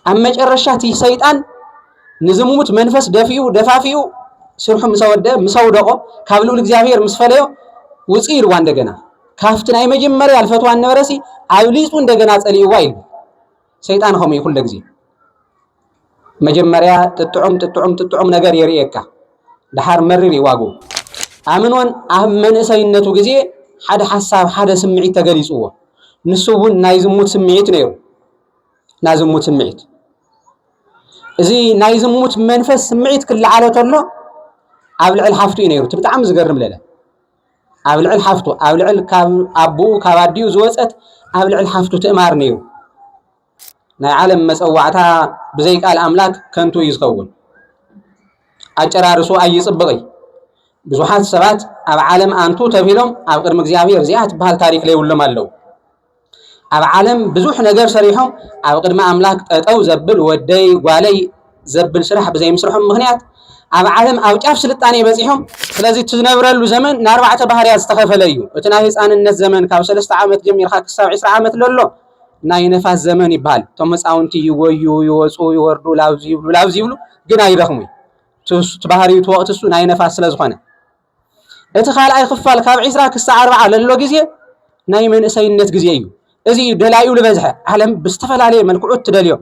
ኣብ መጨረሻ እቲ ሰይጣን ንዝሙት መንፈስ ደፊኡ ደፋፊኡ ስርሑ ምስ ኣወደአ ምስ ኣውደቖ ካብ ልዑል እግዚኣብሔር ምስ ፈለዮ ውፅእ ኢልዋ እንደገና ካብቲ ናይ መጀመርያ ልፈትዋ ነበረሲ ኣብሊፁ እንደገና ፀሊእዋ ኢሉ ሰይጣን ከምኡ እዩ ኩለ ግዜ መጀመርያ ጥጥዑም ጥጥዑም ጥጥዑም ነገር የርእየካ ድሓር መሪር ይዋጉ ኣምኖን ኣብ መንእሰይነቱ ግዜ ሓደ ሓሳብ ሓደ ስምዒት ተገሊፅዎ ንሱ እውን ናይ ዝሙት ስምዒት ነይሩ ናይ ዝሙት ስምዒት እዚ ናይ ዝሙት መንፈስ ስምዒት ክለዓሎ ተሎ ኣብ ልዕል ሓፍቱ እዩ ነይሩ እቲ ብጣዕሚ ዝገርም ለለ ኣብ ልዕል ሓፍቱ ኣብ ልዕል ካብ ኣቦኡ ካብ ኣዲኡ ዝወፀት ኣብ ልዕል ሓፍቱ ትእማር ነይሩ ናይ ዓለም መፀዋዕታ ብዘይ ቃል ኣምላክ ከንቱ እዩ ዝኸውን ኣጨራርሱ ኣይፅብቕ እዩ ብዙሓት ሰባት ኣብ ዓለም ኣንቱ ተብሂሎም ኣብ ቅድሚ እግዚኣብሔር እዚኣ ትበሃል ታሪክ ለይብሎም ኣለዉ ኣብ ዓለም ብዙሕ ነገር ሰሪሖም ኣብ ቅድሚ ኣምላክ ጠጠው ዘብል ወደይ ጓለይ ዘብል ስራሕ ብዘይምስርሖም ምክንያት ኣብ ዓለም ኣብ ጫፍ ስልጣኔ በፂሖም ስለዚ ትነብረሉ ዘመን ንኣርባዕተ ባህርያት ዝተኸፈለ እዩ እቲ ናይ ህፃንነት ዘመን ካብ ሰለስተ ዓመት ጀሚርካ ክሳብ ዕስራ ዓመት ለሎ ናይ ነፋስ ዘመን ይበሃል እቶም ህፃውንቲ ይጎዩ ይወፁ ይወርዱ ላብዚ ይብሉ ላብዚ ይብሉ ግን ኣይደኽሙ ትባህርዩ እቲ ወቅቲ እሱ ናይ ነፋስ ስለዝኾነ እቲ ካልኣይ ክፋል ካብ ዕስራ ክሳዕ ኣርብዓ ለሎ ግዜ ናይ መንእሰይነት ግዜ እዩ። እዚ እዩ ደላዩ ዝበዝሐ ዓለም ብዝተፈላለየ መልክዑ እትደልዮ።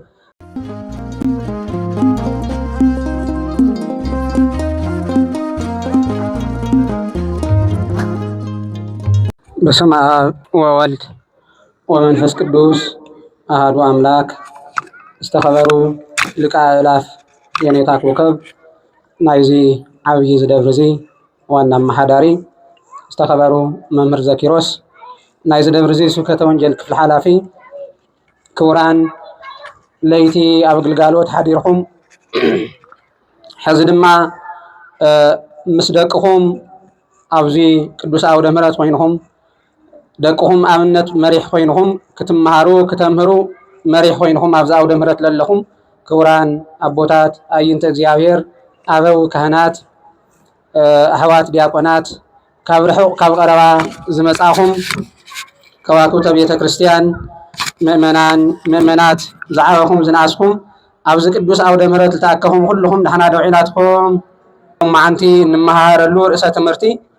በስመ አብ ወወልድ ወመንፈስ ቅዱስ አህዱ አምላክ ዝተኸበሩ ሊቀ አእላፍ የኔታ ኮከብ ናይዚ ዓብዪ እዚ ደብሪ እዚ ዋና ኣመሓዳሪ ዝተኸበሩ መምህር ዘኪሮስ፣ ናይዚ ደብሪ እዚ ስብከተ ወንጌል ክፍሊ ሓላፊ፣ ክቡራን ለይቲ ኣብ ግልጋሎት ሓዲርኩም ሕዚ ድማ ምስ ደቅኹም ኣብዚ ቅዱስ ኣውደ ምሕረት ኮይንኹም ደቅኹም ኣብነት መሪሕ ኮይንኹም ክትመሃሩ ክተምህሩ መሪሕ ኮይንኹም ኣብዚ ኣውደ ምህረት ዘለኹም ክቡራን ኣቦታት ኣይንተ እግዚኣብሔር ኣበው ካህናት ኣሕዋት ዲያቆናት ካብ ርሑቕ ካብ ቀረባ ዝመጻኹም ከዋክብተ ቤተ ክርስቲያን ምእመናን ምእመናት ዝዓበኹም ዝነኣስኩም ኣብዚ ቅዱስ ኣውደ ምህረት ዝተኣከኹም ኩልኹም ንሕና ዶ ዒላትኩም መዓንቲ እንመሃረሉ ርእሰ ትምህርቲ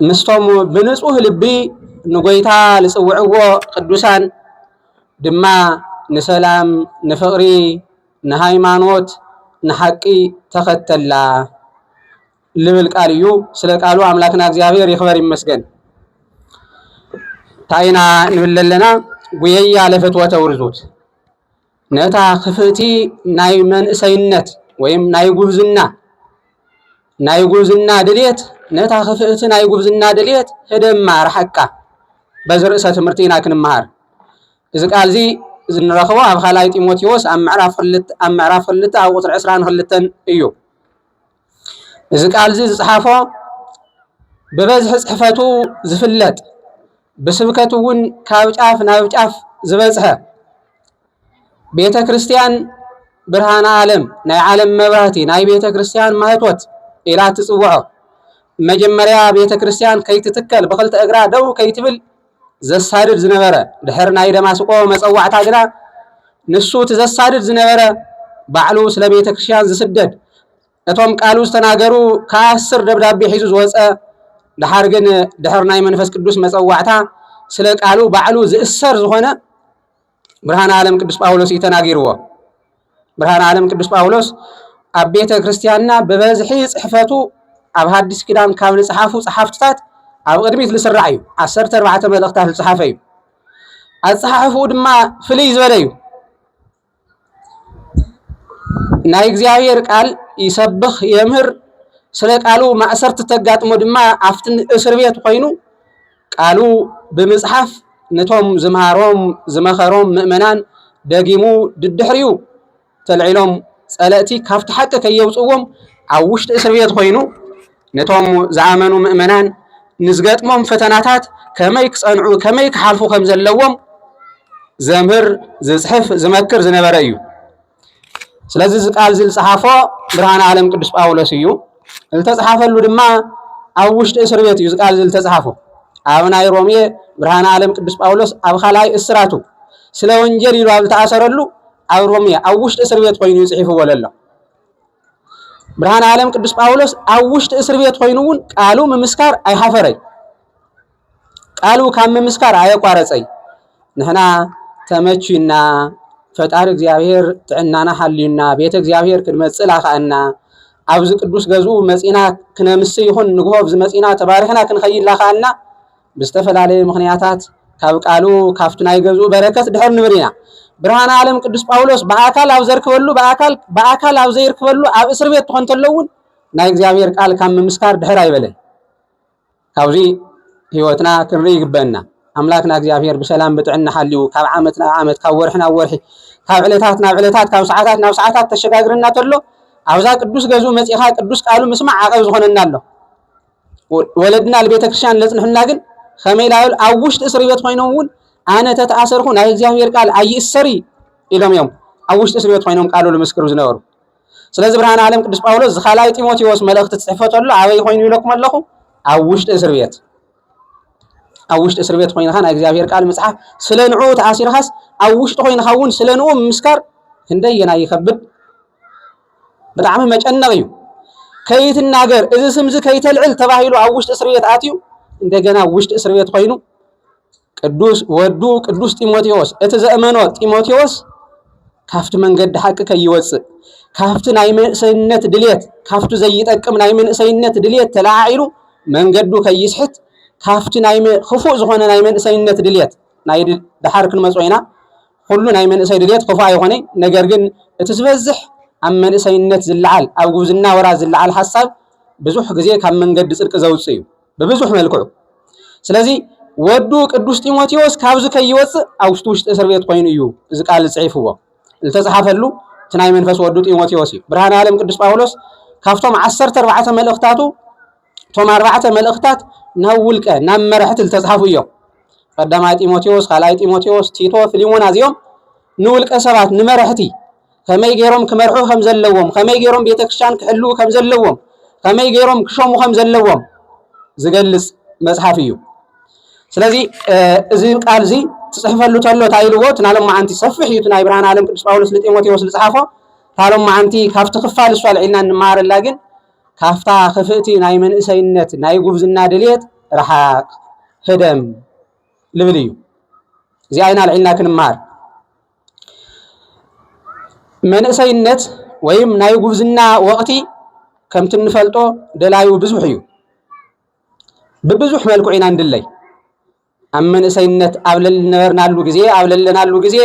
ምስቶም ብንጹህ ልቢ ንጐይታ ዝጽውዕዎ ቅዱሳን ድማ ንሰላም፣ ንፍቕሪ፣ ንሃይማኖት፣ ንሓቂ ተኸተላ ልብል ቃል እዩ። ስለ ቃሉ ኣምላክና እግዚኣብሔር ይኽበር ይመስገን። ታይና ንብል ለለና ጉየያ ለፍትወተ ውርዙት ነታ ክፍእቲ ናይ መንእሰይነት ወይም ናይ ጉብዝና ናይ ጉብዝና ድልየት ነታ ክፍእቲ ናይ ጉብዝና ድልየት ህደማ ርሓቃ በዚ ርእሰ ትምህርቲ ኢና ክንመሃር እዚ ቃል እዚ ዝንረኽቦ ኣብ ካልኣይ ጢሞቴዎስ ኣብ ምዕራፍ ክልተ ኣብ ምዕራፍ ክልተ ኣብ ቁፅሪ ዕስራን ክልተን እዩ እዚ ቃል እዚ ዝፀሓፎ ብበዝሒ ፅሕፈቱ ዝፍለጥ ብስብከት እውን ካብ ጫፍ ናብ ጫፍ ዝበፅሐ ቤተ ክርስቲያን ብርሃነ ዓለም ናይ ዓለም መብራህቲ ናይ ቤተ ክርስቲያን ማህቶት ኢላ ትፅውዖ መጀመርያ ቤተ ክርስቲያን ከይትትከል ብክልተ እግራ ደው ከይትብል ዘሳድድ ዝነበረ ድሕሪ ናይ ደማስቆ መጸዋዕታ ግና ንሱ እቲ ዘሳድድ ዝነበረ ባዕሉ ስለ ቤተ ክርስቲያን ዝስደድ እቶም ቃሉ ዝተናገሩ ከኣስር ደብዳቤ ሒዙ ዝወፀ ድሓር ግን ድሕሪ ናይ መንፈስ ቅዱስ መጸዋዕታ ስለ ቃሉ ባዕሉ ዝእሰር ዝኾነ ብርሃን ዓለም ቅዱስ ጳውሎስ እዩ ተናጊርዎ። ብርሃን ዓለም ቅዱስ ጳውሎስ ኣብ ቤተ ክርስቲያንና ብበዝሒ ጽሕፈቱ ኣብ ሃዲስ ኪዳን ካብ ዝጸሓፉ ጸሓፍትታት ኣብ ቅድሚት ዝስራዕ እዩ። ዓሰርተ ኣርባዕተ መልእኽታት ዝጸሓፈ እዩ። ኣጸሓሕፍኡ ድማ ፍልይ ዝበለ እዩ። ናይ እግዚኣብሔር ቃል ይሰብኽ የምህር ስለ ቃሉ ማእሰርቲ ተጋጥሞ ድማ ኣብቲ እስር ቤት ኮይኑ ቃሉ ብምጽሓፍ ነቶም ዝምሃሮም ዝመኸሮም ምእመናን ደጊሙ ድድሕሪኡ ተልዒሎም ጸለእቲ ካብቲ ሓቂ ከየውጽዎም ኣብ ውሽጢ እስር ቤት ኮይኑ ነቶም ዝኣመኑ ምእመናን ንዝገጥሞም ፈተናታት ከመይ ክጸንዑ ከመይ ክሓልፉ ከም ዘለዎም ዘምህር ዝጽሕፍ ዝመክር ዝነበረ እዩ ስለዚ እዚ ቃል እዚ ዝጸሓፎ ብርሃን ዓለም ቅዱስ ጳውሎስ እዩ ዝተጽሓፈሉ ድማ ኣብ ውሽጢ እስር ቤት እዩ እዚ ቃል እዚ ዝተጽሓፎ ኣብ ናይ ሮሜ ብርሃን ዓለም ቅዱስ ጳውሎስ ኣብ ካልኣይ እስራቱ ስለ ወንጀል ኢሉ ኣብ ዝተኣሰረሉ ኣብ ሮሜ ኣብ ውሽጢ እስር ቤት ኮይኑ ይጽሒፍዎ ዘሎ ብርሃን ዓለም ቅዱስ ጳውሎስ ኣብ ውሽጢ እስር ቤት ኮይኑ እውን ቃሉ ምምስካር ኣይሓፈረይ ቃሉ ካብ ምምስካር ኣየቋረፀይ ንሕና ተመችዩና ፈጣሪ እግዚኣብሔር ጥዕናና ሓልዩና ቤተ እግዚኣብሔር ክንመፅእ ላኸኣና ኣብዚ ቅዱስ ገዝኡ መፂና ክነምስ ይኹን ንግሆ ኣብዚ መፂና ተባሪኽና ክንኸይድ ላኸኣና ብዝተፈላለየ ምኽንያታት ካብ ቃሉ ካብቲ ናይ ገዝኡ በረከት ድሕር ንብር ኢና። ብርሃን ዓለም ቅዱስ ጳውሎስ ብኣካል ኣብ ዘርክበሉ ብኣካል ብኣካል ኣብ ዘይርክበሉ ኣብ እስር ቤት ትኾን ተሎ እውን ናይ እግዚኣብሔር ቃል ካብ ምምስካር ድሕር ኣይበለን። ካብዚ ህይወትና ክንርኢ ይግበአና። ኣምላክና እግዚኣብሔር ብሰላም ብጥዕና ሓልዩ ካብ ዓመት ናብ ዓመት ካብ ወርሒ ናብ ወርሒ ካብ ዕለታት ናብ ዕለታት ካብ ሰዓታት ናብ ሰዓታት ተሸጋግረና ተሎ ኣብዛ ቅዱስ ገዝኡ መፂኻ ቅዱስ ቃሉ ምስማዕ ዓቐብ ዝኾነና ኣሎ። ወለድና ንቤተ ክርስቲያን ለጽንሑና ግን ከመይ ላብል ኣብ ውሽጢ እስር ቤት ኮይኖም እውን ኣነ ተተኣሰርኩ ናይ እግዚኣብሔር ቃል ኣይእሰሪ ኢሎም እዮም ኣብ ውሽጢ እስር ቤት ኮይኖም ቃሉ ልምስክሩ ዝነበሩ ስለዚ ብርሃን ዓለም ቅዱስ ጳውሎስ ዝካልኣይ ጢሞቴዎስ መልእኽቲ ትጽሕፎ ተሎ ኣበይ ኮይኑ ኢለኩም ኣለኹ ኣብ ውሽጢ እስር ቤት ኣብ ውሽጢ እስር ቤት ኮይንካ ናይ እግዚኣብሔር ቃል ምጽሓፍ ስለ ንዑ ተኣሲርካስ ኣብ ውሽጢ ኮይንካ እውን ስለ ንኡ ምምስካር ክንደየና ይኸብድ ብጣዕሚ መጨነቕ እዩ። ከይትናገር እዚ ስምዚ ከይተልዕል ተባሂሉ ኣብ ውሽጢ እስር ቤት ኣትዩ እንደገና ኣብ ውሽጢ እስር ቤት ኮይኑ ቅዱስ ወዱ ቅዱስ ጢሞቴዎስ እቲ ዘእመኖ ጢሞቴዎስ ካብቲ መንገዲ ሓቂ ከይወፅእ ካብቲ ናይ መንእሰይነት ድሌት ካብቲ ዘይጠቅም ናይ መንእሰይነት ድሌት ተለዓዒሉ መንገዱ ከይስሕት ካብቲ ናይ ክፉእ ዝኾነ ናይ መንእሰይነት ድሌት ናይ ድሓር ክንመፅኦ ኢና ኹሉ ናይ መንእሰይ ድሌት ክፉእ ኣይኾነይ ነገር ግን እቲ ዝበዝሕ ኣብ መንእሰይነት ዝለዓል ኣብ ጉብዝና ወራት ዝለዓል ሓሳብ ብዙሕ ግዜ ካብ መንገዲ ጽድቂ ዘውጽእ እዩ ብብዙሕ መልክዑ ስለዚ ወዱ ቅዱስ ጢሞቴዎስ ካብዚ ከይወጽእ ኣብ ውሽጢ ውሽጢ እስር ቤት ኮይኑ እዩ እዚ ቃል ዝጽሒፍዎ ዝተጽሓፈሉ እቲ ናይ መንፈስ ወዱ ጢሞቴዎስ እዩ ብርሃን ዓለም ቅዱስ ጳውሎስ ካብቶም ዓሰርተ ኣርባዕተ መልእኽታቱ እቶም ኣርባዕተ መልእኽታት ናብ ውልቀ ናብ መራሕቲ ዝተፅሓፉ እዮም። ቀዳማይ ጢሞቴዎስ፣ ካልኣይ ጢሞቴዎስ፣ ቲቶ፣ ፊሊሞና እዚኦም ንውልቀ ሰባት ንመራሕቲ ከመይ ገይሮም ክመርሑ ከም ዘለዎም፣ ከመይ ገይሮም ቤተ ክርስቲያን ክሕልው ከም ዘለዎም፣ ከመይ ገይሮም ክሸሙ ከም ዘለዎም ዝገልጽ መጽሓፍ እዩ። ስለዚ እዚ ቃል እዚ ትጽሕፈሉ ተሎ እንታይ ኢልዎ እቲ ናይ ሎማዓንቲ ሰፊሕ እዩ እቲ ናይ ብርሃን ዓለም ቅዱስ ጳውሎስ ንጢሞቴዎስ ዝጽሓፎ እታ ሎማዓንቲ ካብቲ ክፋል እሱ ኣልዒልና እንመሃረላ ግን ካፍታ ክፍእቲ ናይ መንእሰይነት ናይ ጉብዝና ድልየት ረሓቅ ህደም ልብል እዩ እዚኣ ኢና ልዒልና ክንምሃር መንእሰይነት ወይም ናይ ጉብዝና ወቕቲ ከምቲ እንፈልጦ ደላዩ ብዙሕ እዩ ብብዙሕ መልክዑ ኢና ንድለይ ኣብ መንእሰይነት ኣብ ለነበርናሉ ግዜ ኣብ ለለናሉ ግዜ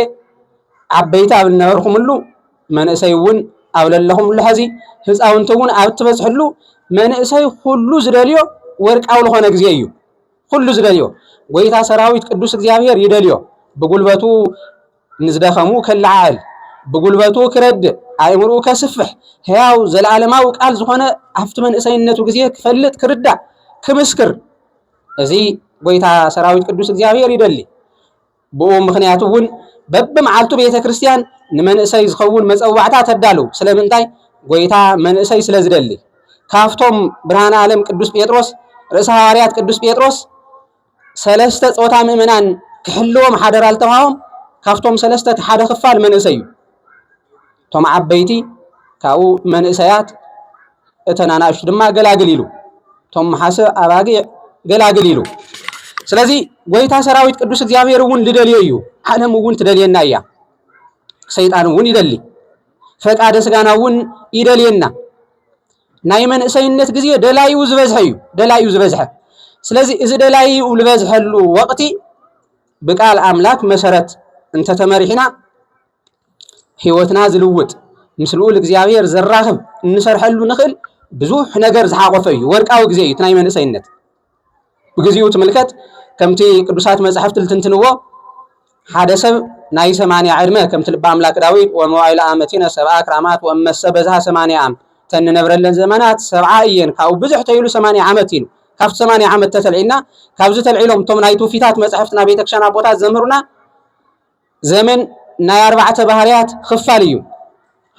ዓበይቲ ኣብ ነበርኩምሉ መንእሰይ እውን ኣብ ለለኹምሉ ሐዚ ህፃውንቲ እውን ኣብ ትበፅሕሉ መንእሰይ ኩሉ ዝደልዮ ወርቃዊ ዝኾነ ግዜ እዩ። ኩሉ ዝደልዮ ጎይታ ሰራዊት ቅዱስ እግዚኣብሔር ይደልዮ። ብጉልበቱ ንዝደኸሙ ከለዓዕል፣ ብጉልበቱ ክረድእ፣ ኣእምርኡ ከስፍሕ፣ ሕያው ዘለዓለማዊ ቃል ዝኾነ ኣብቲ መንእሰይነቱ ግዜ ክፈልጥ፣ ክርዳእ፣ ክምስክር እዚ ጐይታ ሰራዊት ቅዱስ እግዚኣብሔር ይደሊ። ብኡ ምኽንያት እውን በብመዓልቱ ቤተ ክርስቲያን ንመንእሰይ ዝኸውን መጸዋዕታ ተዳልው። ስለምንታይ? ጐይታ መንእሰይ ስለ ዝደሊ። ካብቶም ብርሃነ ዓለም ቅዱስ ጴጥሮስ ርእሰ ሃዋርያት ቅዱስ ጴጥሮስ ሰለስተ ጾታ ምእመናን ክሕልዎም ሓደራ ዝተውሃቦም ካብቶም ሰለስተ እቲ ሓደ ክፋል መንእሰይ እዩ። እቶም ዓበይቲ ካብኡ መንእሰያት እተን ኣናእሽቱ ድማ ገላግል ኢሉ እቶም መሓሰ ኣባጊዕ ገላግል ኢሉ ስለዚ ጎይታ ሰራዊት ቅዱስ እግዚኣብሔር እውን ልደልዮ እዩ ዓለም እውን ትደልየና እያ ሰይጣን እውን ይደሊ ፈቃደ ስጋና እውን ይደልየና ናይ መንእሰይነት ግዜ ደላዩ ዝበዝሐ እዩ ደላዩ ዝበዝሐ ስለዚ እዚ ደላዩ ዝበዝሐሉ ወቅቲ ብቃል ኣምላክ መሰረት እንተተመሪሕና ህይወትና ዝልውጥ ምስ ልኡል እግዚኣብሔር ዘራኽብ እንሰርሐሉ ንኽእል ብዙሕ ነገር ዝሓቆፈ እዩ። ወርቃዊ ግዜ እዩ እቲ ናይ መንእሰይነት። ብግዚኡ ትምልከት ከምቲ ቅዱሳት መጻሕፍቲ ልትንትንዎ ሓደ ሰብ ናይ ሰማንያ ዕድመ ከምቲ ልቢ ኣምላክ ዳዊት ወመዋይል ኣመቲነ ሰብኣ ክራማት ወመሰ በዝሃ ሰማንያ ኣም ተንነብረለን ዘመናት ሰብዓ እየን ካብኡ ብዙሕ ተይሉ ሰማንያ ዓመት ኢሉ ካብቲ ሰማንያ ዓመት ተተልዒልና ካብዚ ተልዒሎም እቶም ናይ ትውፊታት መጻሕፍትና ቤተክርስትያን ኣቦታት ዘምህሩና ዘመን ናይ ኣርባዕተ ባህርያት ኽፋል እዩ።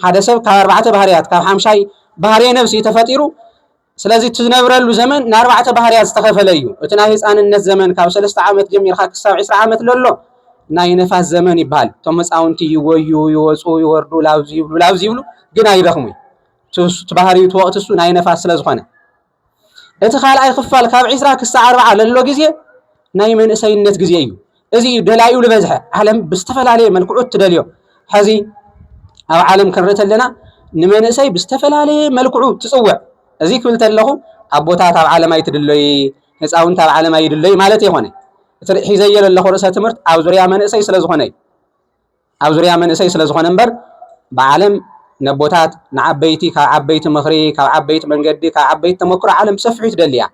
ሓደ ሰብ ካብ ኣርባዕተ ባህርያት ካብ ሓምሻይ ባህርየ ነብሲ እዩ ተፈጢሩ። ስለዚ እቲ ዝነብረሉ ዘመን ንኣርባዕተ ባህርያት ዝተኸፈለ እዩ። እቲ ናይ ህፃንነት ዘመን ካብ ሰለስተ ዓመት ጀሚርካ ክሳብ ዕስራ ዓመት ለሎ ናይ ነፋስ ዘመን ይበሃል። እቶም ህፃውንቲ ይጎዩ፣ ይወፁ፣ ይወርዱ፣ ላብዚ ይብሉ፣ ላብዚ ይብሉ ግን ኣይደኽሙይ። እቲ ባህሪኡ እቲ ወቕቲ እሱ ናይ ነፋስ ስለዝኾነ እቲ ካልኣይ ክፋል ካብ ዕስራ ክሳዕ ኣርብዓ ለሎ ግዜ ናይ መንእሰይነት ግዜ እዩ። እዚ እዩ ደላዩ ዝበዝሐ ዓለም ብዝተፈላለየ መልክዑ እትደልዮ። ሕዚ ኣብ ዓለም ክንርኢ ተለና ንመንእሰይ ብዝተፈላለየ መልክዑ ትጽውዕ። እዚ ክብል ተለኹ ኣቦታት ኣብ ዓለም ኣይትድለይ፣ ህፃውንቲ ኣብ ዓለም ኣይድለይ ማለት የኾነ። እቲ ሒዘዮ ዘለኹ ርእሰ ትምህርት ኣብ ዙርያ መንእሰይ ስለ ዝኾነ እዩ። ኣብ ዙርያ መንእሰይ ስለ ዝኾነ እምበር ብዓለም ነቦታት ንዓበይቲ ካብ ዓበይቲ ምኽሪ ካብ ዓበይቲ መንገዲ ካብ ዓበይቲ ተመክሮ ዓለም ብሰፊሑ ትደሊ እያ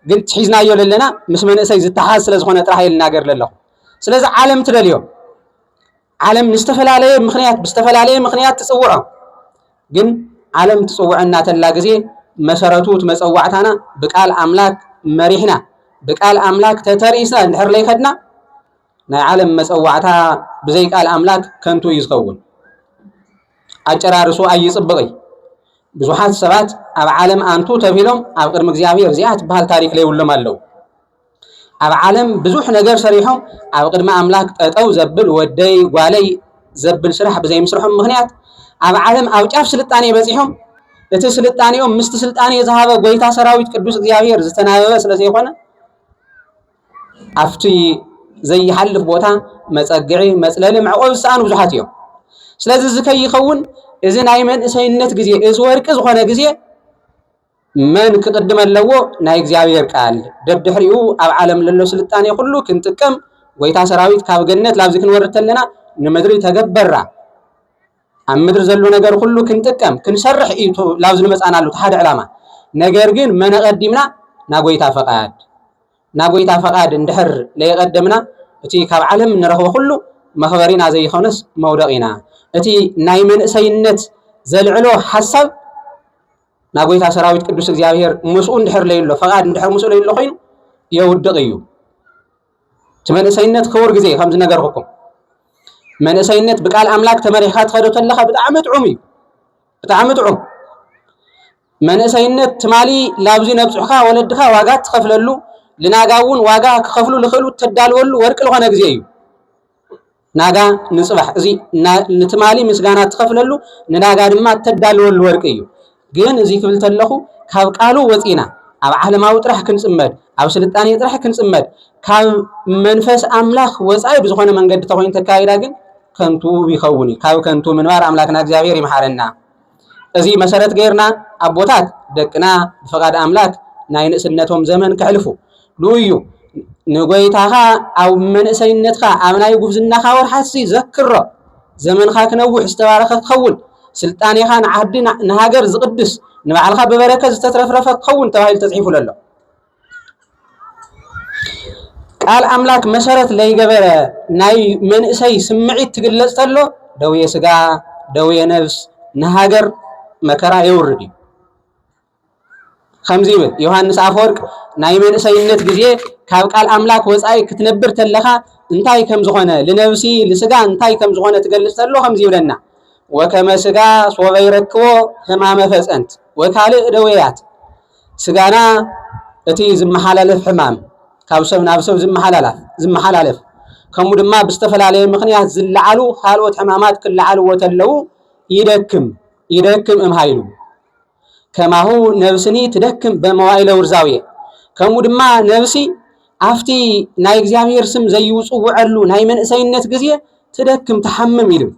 ግን ትሒዝናዮ ለለና ምስ መንእሰይ ዝተሓዝ ስለ ዝኾነ ጥራሕ እየ ልናገር ለለኹ ስለዚ ዓለም ትደልዮ ዓለም ንዝተፈላለየ ምክንያት ብዝተፈላለየ ምክንያት ትፅውዖ ግን ዓለም ትፅውዐና ተላ ግዜ መሰረቱ እቲ መፀዋዕታና ብቃል ኣምላክ መሪሕና ብቃል ኣምላክ ተተርኢስና እንድሕር ለይኸድና ናይ ዓለም መጸዋዕታ ብዘይ ቃል ኣምላክ ከንቱ እዩ ዝኸውን። ኣጨራርሱ ኣይጽብቅ እይ ብዙሓት ሰባት ኣብ ዓለም ኣንቱ ተብሂሎም ኣብ ቅድሚ እግዚኣብሔር እዚኣ ትበሃል ታሪክ ለይብሎም ኣለው። ኣብ ዓለም ብዙሕ ነገር ሰሪሖም ኣብ ቅድሚ ኣምላክ ጠጠው ዘብል ወደይ ጓለይ ዘብል ስራሕ ብዘይምስርሖም ምክንያት ኣብ ዓለም ኣብ ጫፍ ስልጣኔ በጺሖም እቲ ስልጣኔኦም ምስቲ ስልጣኔ ዝሃበ ጎይታ ሰራዊት ቅዱስ እግዚኣብሔር ዝተናበበ ስለዘይኮነ ኣብቲ ዘይሓልፍ ቦታ መፀግዒ፣ መፅለሊ፣ መዕቆቢ ዝሰኣኑ ብዙሓት እዮም። ስለዚ እዚ ከይኸውን እዚ ናይ መንእሰይነት ግዜ እዚ ወርቂ ዝኾነ ግዜ መን ክቕድመ ኣለዎ? ናይ እግዚኣብሔር ቃል ደድሕሪኡ ኣብ ዓለም ለሎ ስልጣኔ ኩሉ ክንጥቀም ጎይታ ሰራዊት ካብ ገነት ላብዚ ክንወርድ ተለና ንምድሪ ተገበራ ኣብ ምድሪ ዘሎ ነገር ኩሉ ክንጥቀም ክንሰርሕ እዩ ላብ ዝንመፃናሉ እቲ ሓደ ዕላማ ነገር ግን መነቐዲምና ናጎይታ ፈቓድ ናጎይታ ፈቓድ እንድሕር ለየቐደምና እቲ ካብ ዓለም እንረኽቦ ኩሉ መኽበሪና ዘይኾነስ መውደቒና እቲ ናይ መንእሰይነት ዘልዕሎ ሓሳብ ናጎይታ ሰራዊት ቅዱስ እግዚኣብሔር ምስኡ እንድሕር ለይሎ ፈቓድ እንድሕር ምስኡ ለይሎ ኮይኑ የውድቕ እዩ እቲ መንእሰይነት ክቡር ግዜ ከም ዝነገርኩኩም መንእሰይነት ብቃል ኣምላክ ተመሪሕካ ትኸዶ ተለኻ ብጣዕሚ ጥዑም እዩ ብጣዕሚ ጥዑም መንእሰይነት ትማሊ ላብዚ ነብፅሑካ ወለድኻ ዋጋ ትኸፍለሉ ልናጋ እውን ዋጋ ክኸፍሉ ልኽእሉ ተዳልወሉ ወርቂ ዝኾነ ግዜ እዩ ናጋ ንጽባሕ እዚ ንትማሊ ምስጋና ትኸፍለሉ ንናጋ ድማ እተዳልወሉ ወርቂ እዩ። ግን እዚ ክብል ተለኹ ካብ ቃሉ ወጺና ኣብ ዓለማዊ ጥራሕ ክንጽመድ ኣብ ስልጣኔ ጥራሕ ክንጽመድ ካብ መንፈስ ኣምላኽ ወጻኢ ብዝኾነ መንገዲ ተኾይኑ ተካይዳ ግን ከንቱ ይኸውን እዩ። ካብ ከንቱ ምንባር ኣምላክና እግዚኣብሔር ይምሓረና። እዚ መሰረት ገይርና ኣቦታት ደቅና ብፍቓድ ኣምላክ ናይ ንእስነቶም ዘመን ከሕልፉ ንኡዩ። ንጎይታኻ ኣብ መንእሰይነትካ ኣብ ናይ ጉብዝናኻ ወርሓትሲ ዘክሮ። ዘመንኻ ክነውሕ ዝተባረኸ ክኸውን ስልጣኔኻ ንዓዲ ንሃገር ዝቕድስ ንባዕልኻ ብበረከት ዝተትረፍረፈ ክኸውን ተባሂሉ ተጽሒፉ ለሎ። ቃል ኣምላክ መሰረት ለይገበረ ናይ መንእሰይ ስምዒት ትግለጽ ተሎ ደዌ ስጋ ደዌ ነብስ ንሃገር መከራ የውርድ እዩ ከምዚ ይብል ዮሃንስ ኣፈወርቅ ናይ መንእሰይነት ግዜ ካብ ቃል ኣምላክ ወፃኢ ክትነብር ተለካ እንታይ ከም ዝኾነ ልነብሲ ልስጋ እንታይ ከም ዝኾነ ትገልጽ ተሎ ከምዚ ይብለና ወከመ ስጋ ሶበ ይረክቦ ህማመ ፈፀንት ወካልእ ደዌያት ስጋና እቲ ዝመሓላለፍ ሕማም፣ ካብ ሰብ ናብ ሰብ ዝመሓላለፍ፣ ከምኡ ድማ ብዝተፈላለየ ምኽንያት ዝለዓሉ ካልኦት ሕማማት ክለዓልዎ ተለው ይደክም ይደክም እም ሃይሉ ከማሁ ነብስኒ ትደክም በመዋኢለ ውርዛውየ ከምኡ ድማ ነብሲ ኣብቲ ናይ እግዚኣብሔር ስም ዘይውፅውዐሉ ናይ መንእሰይነት ግዜ ትደክም ትሓምም ይብል።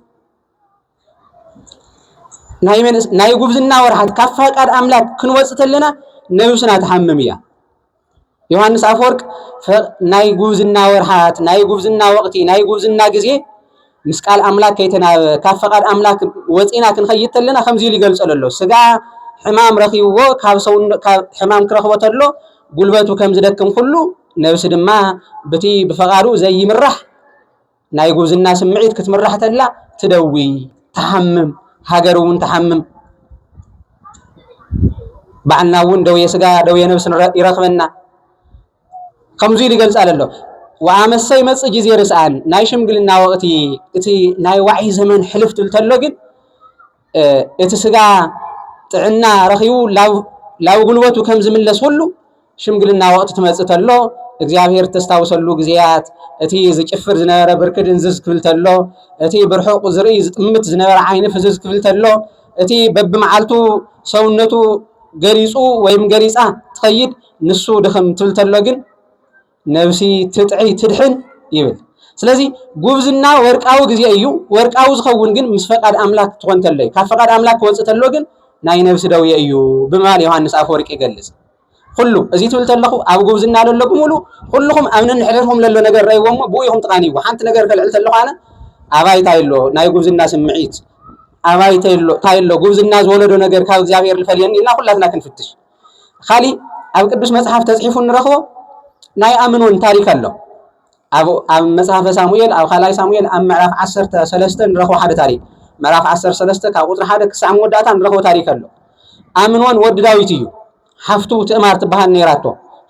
ናይ ጉብዝና ወርሓት ካብ ፈቃድ ኣምላክ ክንወፅእ ተለና ነብስና ትሓምም እያ ዮሃንስ ኣፈወርቅ ናይ ጉብዝና ወርሓት ናይ ጉብዝና ወቅቲ ናይ ጉብዝና ግዜ ምስ ቃል ኣምላክ ከይተናበበ ካብ ፈቃድ ኣምላክ ወፂና ክንኸይድ ተለና ከምዚ ኢሉ ይገልፀሉ ኣሎ ስጋ ሕማም ረኪብዎ ካብ ሕማም ክረክቦ ተሎ ጉልበቱ ከም ዝደክም ኩሉ ነብሲ ድማ ብቲ ብፈቃዱ ዘይምራሕ ናይ ጉብዝና ስምዒት ክትምራሕ ተላ ትደዊ፣ ትሓምም፣ ሃገር እውን ትሓምም። ባዕልና እውን ደውየ ስጋ ደውየ ነብሲ ይረክበና ከምዚ ኢሉ ይገልጻ ዘሎ ወኣመሰ ይመጽእ ግዜ ርስኣን ናይ ሽምግልና ወቅቲ እቲ ናይ ዋዒ ዘመን ሕልፍ ትብል ተሎ ግን እቲ ስጋ ጥዕና ረኺቡ ላብ ጉልበቱ ከም ዝምለስ ሁሉ ሽምግልና ወቅቲ ትመጽእ ተሎ እግዚኣብሔር ተስታውሰሉ ግዜያት እቲ ዝጭፍር ዝነበረ ብርኪ ድንዝዝ ክብል ተሎ እቲ ብርሑቅ ዝርኢ ዝጥምት ዝነበረ ዓይኒ ፍዝዝ ክብል ተሎ እቲ በብመዓልቱ ሰውነቱ ገሊጹ ወይም ገሊጻ ትኸይድ ንሱ ድኽም ትብል ተሎ ግን ነብሲ ትጥዕይ ትድሕን ይብል። ስለዚ ጉብዝና ወርቃዊ ግዜ እዩ። ወርቃዊ ዝኸውን ግን ምስ ፈቃድ ኣምላክ ትኾን ተሎ እዩ። ካብ ፈቃድ ኣምላክ ክወፅእ ተሎ ግን ናይ ነብሲ ደውየ እዩ ብምባል ዮሃንስ ኣፈወርቂ ይገልጽ። ኩሉ እዚ ትብል ተለኹ ኣብ ጉብዝና ለሎ ብምሉ ኩልኹም ኣብ ነንሕድሕድኩም ለሎ ነገር ረእይዎ እሞ ብኡ ኢኹም ትቓንይዎ። ሓንቲ ነገር ከልዕል ተለኹ ኣነ ኣባይ እንታይ ኣሎ ናይ ጉብዝና ስምዒት ኣባይ እንታይ ኣሎ ጉብዝና ዝወለዶ ነገር ካብ እግዚኣብሔር ልፈልየኒ ኢልና ኩላትና ክንፍትሽ ኻሊእ ኣብ ቅዱስ መጽሓፍ ተጽሒፉ ንረኽቦ ናይ ኣምኖን ታሪክ ኣሎ ኣብ ኣብ መጽሓፈ ሳሙኤል ኣብ ካልኣይ ሳሙኤል ኣብ ምዕራፍ 13 ንረኽቦ ሓደ ታሪክ ምዕራፍ 13 ካብ ቁጽሪ ሓደ ክሳዕ መወዳእታ ንረኽቦ ታሪክ ኣሎ ኣምኖን ወዲ ዳዊት እዩ ሓፍቱ ትእማር ትበሃል ነይራቶ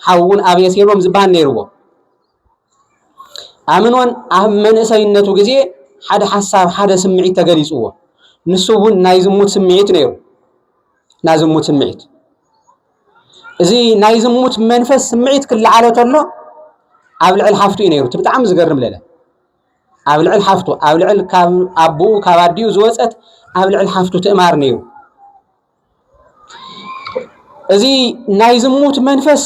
ሓውን ኣቤሴሎም ዝበሃል ነይርዎ ኣምኖን ኣብ መንእሰይነቱ ግዜ ሓደ ሓሳብ ሓደ ስምዒት ተገሊጽዎ ንሱ እውን ናይ ዝሙት ስምዒት ነይሩ ናይ ዝሙት ስምዒት እዚ ናይ ዝሙት መንፈስ ስምዒት ክለዓሎ ተሎ ኣብ ልዕል ሓፍቱ እዩ ነይሩ እቲ ብጣዕሚ ዝገርም ለለ ኣብ ልዕል ሓፍቱ ኣብ ልዕል ካብ ኣቦኡ ካብ ኣዲኡ ዝወፀት ኣብ ልዕል ሓፍቱ ትእማር ነይሩ እዚ ናይ ዝሙት መንፈስ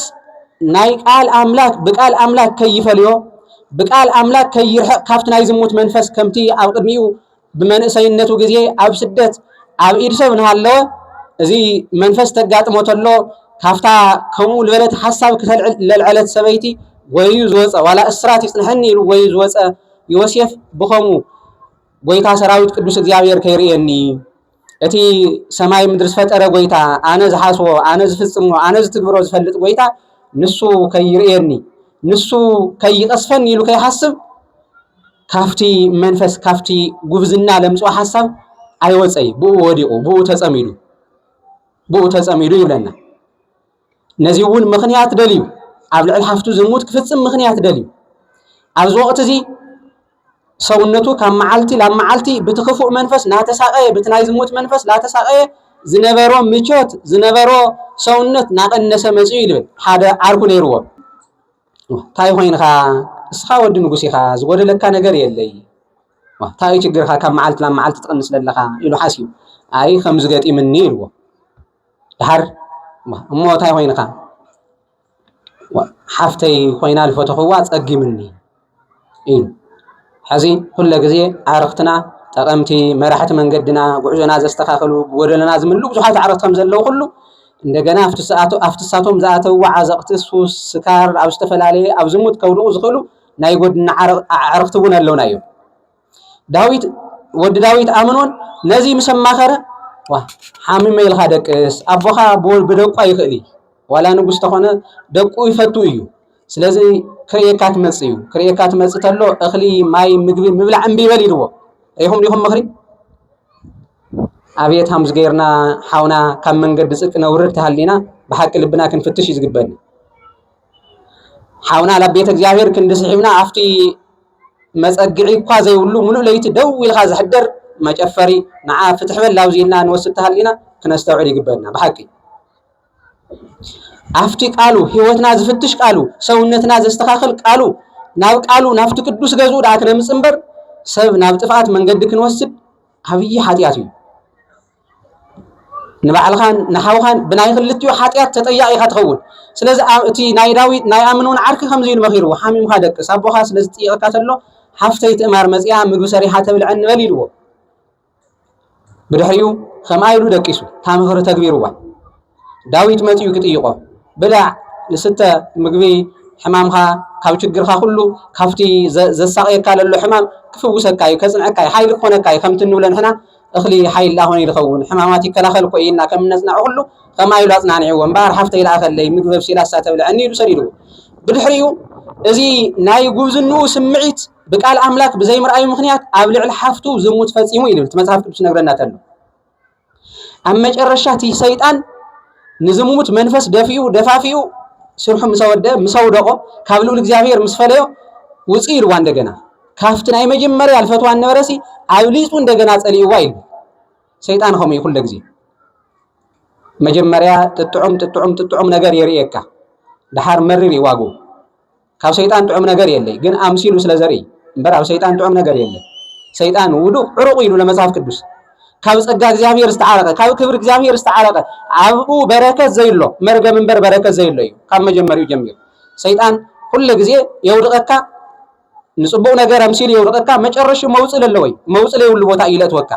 ናይ ቃል ኣምላክ ብቃል ኣምላክ ከይፈልዮ ብቃል ኣምላክ ከይርሕቕ ካብቲ ናይ ዝሙት መንፈስ ከምቲ ኣብ ቅድሚኡ ብመንእሰይነቱ ግዜ ኣብ ስደት ኣብ ኢድ ሰብ እናሃለወ እዚ መንፈስ ተጋጥሞ ተሎ ካብታ ከምኡ ዝበለት ሓሳብ ክተልዕለልዐለት ሰበይቲ ጎይዩ ዝወፀ ዋላ እስራት ይፅንሐኒ ኢሉ ጎይዩ ዝወፀ ዮሴፍ ብኸምኡ ጎይታ ሰራዊት ቅዱስ እግዚኣብሔር ከይርእየኒ እቲ ሰማይ ምድሪ ዝፈጠረ ጎይታ ኣነ ዝሓስቦ ኣነ ዝፍፅሞ ኣነ ዝትግብሮ ዝፈልጥ ጎይታ ንሱ ከይርእየኒ ንሱ ከይቀስፈኒ ኢሉ ከይሓስብ ካብቲ መንፈስ ካብቲ ጉብዝና ለምፅኦ ሓሳብ ኣይወፀይ ብኡ ወዲቑ ብኡ ተፀሚዱ ብኡ ተፀሚዱ ይብለና ነዚ እውን ምክንያት ደልዩ ኣብ ልዕሊ ሓፍቱ ዝሙት ክፍፅም ምክንያት ደልዩ ኣብዚ ወቅት እዚ ሰውነቱ ካብ መዓልቲ ናብ መዓልቲ ብቲ ክፉእ መንፈስ ናተሳቀየ ብቲ ናይ ዝሙት መንፈስ ናተሳቀየ ዝነበሮ ምቾት ዝነበሮ ሰውነት ናቀነሰ መፅኡ ይብል ሓደ ዓርኩ ነይርዎ ታይ ኾይንኻ እስኻ ወዲ ንጉስ ኢኻ ዝጎደለካ ነገር የለይ ታዩ ችግርኻ ካብ መዓልቲ ናብ መዓልቲ ትቕንስ ዘለኻ ኢሉ ሓስዩ ኣይ ከምዚ ገጢምኒ ኢልዎ ድሓር እሞ ታይ ኾይንኻ ሓፍተይ ኮይና ዝፈተኽዋ ፀጊምኒ እዩ። ሐዚ ኩለ ግዜ ኣዕርኽትና ጠቐምቲ መራሕቲ መንገድና ጉዕዞና ዘስተኻኽሉ ጎደለና ዝምልኡ ብዙሓት ኣዕርኽቲ ከምዘለዉ ኩሉ እንደገና ኣብቲ ሳቶም ዝኣተውዎ ዓዘቕቲ ሱስ፣ ስካር ኣብ ዝተፈላለየ ኣብ ዝሙት ከውድቑ ዝኽእሉ ናይ ጎድና ኣዕርኽቲ እውን ኣለዉና እዮም። ዳዊት ወዲ ዳዊት ኣምኖን ነዚ ምስ ኣማኸረ ዋ ሓሚመ ኢልካ ደቅስ ኣቦኻ ብደቁ ኣይኽእል እዩ ዋላ ንጉስ ተኾነ ደቁ ይፈቱ እዩ ስለዚ ክርእየካ ትመፅእ እዩ ክርእየካ ትመፅእ ተሎ እኽሊ ማይ ምግቢ ምብላዕ እምቢ ይበል ኢልዎ ሪኹም ዲኹም ምኽሪ ኣብየት ሃምዝ ገይርና ሓውና ካብ መንገዲ ፅድቂ ነውርድ ተሃሊና ብሓቂ ልብና ክንፍትሽ እዩ ዝግበኒ ሓውና ናብ ቤተ እግዚኣብሔር ክንዲ ስሒብና ኣብቲ መጸግዒ እኳ ዘይብሉ ምሉእ ለይቲ ደው ኢልካ ዝሕደር መጨፈሪ ንዓ ፍትሕ በል ኣብዚ ኢልና ንወስድ ተሃሊና ክነስተውዕል ይግበና ብሓቂ ኣብቲ ቃሉ ህይወትና ዝፍትሽ ቃሉ ሰውነትና ዘስተኻኽል ቃሉ ናብ ቃሉ ናብቲ ቅዱስ ገዝኡ ደኣ ክነምፅ እምበር ሰብ ናብ ጥፍኣት መንገዲ ክንወስድ ዓብዪ ሓጢኣት እዩ ንባዕልኻን ንሓውኻን ብናይ ክልቲኡ ሓጢኣት ተጠያቂ ኢኻ ትኸውን። ስለዚ እቲ ናይ ዳዊት ናይ ኣምን እውን ዓርኪ ከምዚ ኢሉ መኺርዎ፣ ሓሚምካ ደቅስ፣ ኣቦኻ ስለ ዝጥይቐካ ተሎ ሓፍተይ ትእማር መጺኣ ምግቢ ሰሪሓ ተብልዐኒ በል ኢልዎ። ብድሕሪኡ ከምኣ ኢሉ ደቂሱ፣ እታ ምኽሪ ተግቢርዋ። ዳዊት መጺኡ ክጥይቆ ብላዕ ንስተ ምግቢ ሕማምካ ካብ ችግርካ ኩሉ ካብቲ ዘሳቅየካ ለሎ ሕማም ክፍውሰካ እዩ ከጽንዐካ እዩ ሓይሊ ክኾነካ እዩ ከምቲ እንብሎ ንሕና እኽሊ ሓይሊ ኣኾነ ይልኸውን ሕማማት ይከላኸል እኮ እዩ እና ከም እነጽናዑ ኩሉ ከምኣ ኢሉ ኣጽናንዕዎ እምበኣር ሓፍተይ ለኣኸለይ ምግቢ ኣብሲላ እሳ ተብልዐኒ ኢሉ ሰዲድዎ ብድሕሪኡ እዚ ናይ ጉብዝንኡ ስምዒት ብቃል ኣምላክ ብዘይምርኣዩ ምክንያት ኣብ ልዕሊ ሓፍቱ ዝሙት ፈጺሙ እዩ ልብል እቲ መጽሓፍ ቅዱስ ነግረና ተሎ ኣብ መጨረሻ እቲ ሰይጣን ንዝሙት መንፈስ ደፊኡ ደፋፊኡ ስርሑ ምስ ኣወደ ምስ ኣውደቖ ካብ ልዑል እግዚኣብሔር ምስ ፈለዮ ውፅእ ኢልዋ እንደገና ካብቲ ናይ መጀመርያ ልፈትዋ ነበረሲ ኣብሊፁ እንደገና ፀሊእዋ ኢሉ ሰይጣን ከምኡ እዩ ኩለ ግዜ መጀመርያ ጥጥዑም ጥጥዑም ጥጥዑም ነገር የርእየካ ድሓር መሪር ይዋግኡ ካብ ሰይጣን ጥዑም ነገር የለይ ግን ኣምሲሉ ስለ ዘርኢ እምበር ኣብ ሰይጣን ጥዑም ነገር የለይ። ሰይጣን ውዱቅ ዕሩቅ ኢሉ ለመጽሐፍ ቅዱስ ካብ ጸጋ እግዚኣብሔር ዝተዓረቀ ካብ ክብሪ እግዚኣብሔር ዝተዓረቀ ኣብኡ በረከት ዘይሎ መርገም እምበር በረከት ዘይሎ እዩ። ካብ መጀመሪኡ ጀሚሩ ሰይጣን ኩሉ ግዜ የውድቀካ ንጽቡቅ ነገር ኣምሲሉ የውድቀካ መጨረሹ መውጽእ ለለወይ መውጽእ ለይብሉ ቦታ እዩ ለእትወካ